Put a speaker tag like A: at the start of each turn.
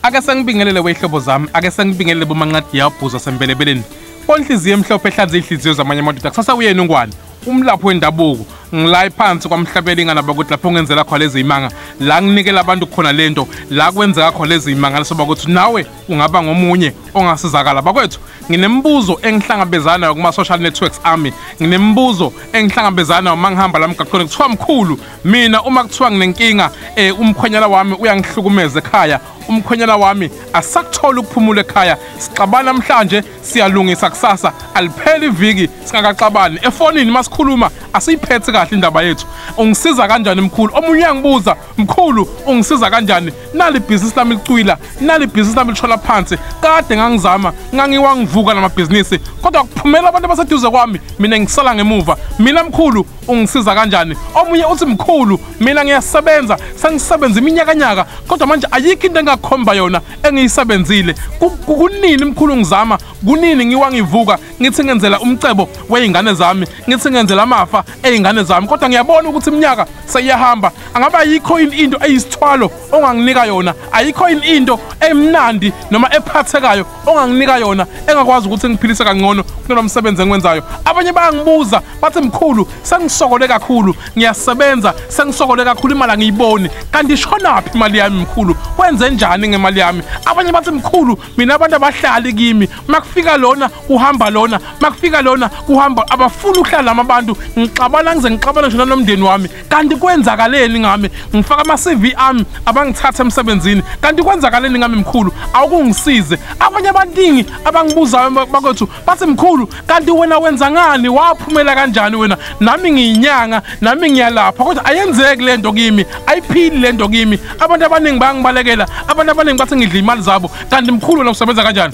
A: ake sengibingelele weyihlobo zami ake sengibingelele bomanqadi yabhuza sembelebeleni onhliziyo emhlophe ehlanza iy'hliziyo zamanye amadoda kusasa uyena ungwane umlaphi wendabuko ngilayi phansi kwamhlabeli inganaba ukuthi lapho ngenzela khona lezi imanga la nginikela abantu khona le nto la kwenzeka khona lezi imanga lesoba ukuthi nawe ungaba ngomunye ongasizakala bakwethu nginemibuzo engihlangabezana nayo kuma-social networks ami nginemibuzo engihlangabezana nayo uma ngihamba la mgaqweni kuthiwa mkhulu mina uma kuthiwa nginenkinga eh umkhwenyana wami uyangihlukumeza ekhaya umkhwenyana wami asakuthola ukuphumula ekhaya sixabana namhlanje siyalungisa kusasa alipheli iviki singakaxabani efonini masikhuluma asiyiphethe kahle indaba yethu ungisiza kanjani mkhulu omunye uyangibuza mkhulu ungisiza kanjani nali business lami licwila nali business lami lishola phansi kade ngangizama ngangiwangivuka namabhizinisi kodwa kuphumela abantu abaseduze kwami mina ngisala ngemuva mina mkhulu ungisiza kanjani omunye uthi mkhulu mina ngiyasebenza sengisebenza iminyakanyaka kodwa manje ayikho into engakhomba yona engiyisebenzile kunini mkhulu ngizama kunini ngiwa ngivuka ngithi ngenzela umcebo wey'ngane zami ngithi ngenzela amafa ey'ngane zami kodwa ngiyabona ukuthi iminyaka seyiyahamba angabe ayikho yini into eyisithwalo onganginika yona ayikho yini into emnandi noma ephathekayo onganginika yona engakwazi ukuthi ngiphilise kangcono kunalo msebenzi engiwenzayo abanye bayangibuza bathi mkhulu sengisokole kakhulu ngiyasebenza sengisokole kakhulu imali angiyiboni kanti ishonaphi imali yami mkhulu wenze njani ngemali yami abanye bathi mkhulu mina abantu abahlali kimi makufika lona uhamba lona makufika lona uhamba abafuni ukuhlala lama abantu ngixabana ngize ngixabana nje nomndeni wami kanti kwenzakaleni ngami ngifaka ama-cv ami abangithatha emsebenzini kanti kwenzakaleni ngami mkhulu awukungisize abanye abaningi abangibuzayo bakwethu bathi mkhulu kanti wena wenza ngani waphumela kanjani wena nami ngiyinyanga nami ngiyalapha kodwa ayenzeki le nto kimi ayiphili le nto kimi abantu abaningi bayangibalekela abantu abaningi bathi ngidla iy'mali zabo kanti mkhulu wena usebenza kanjani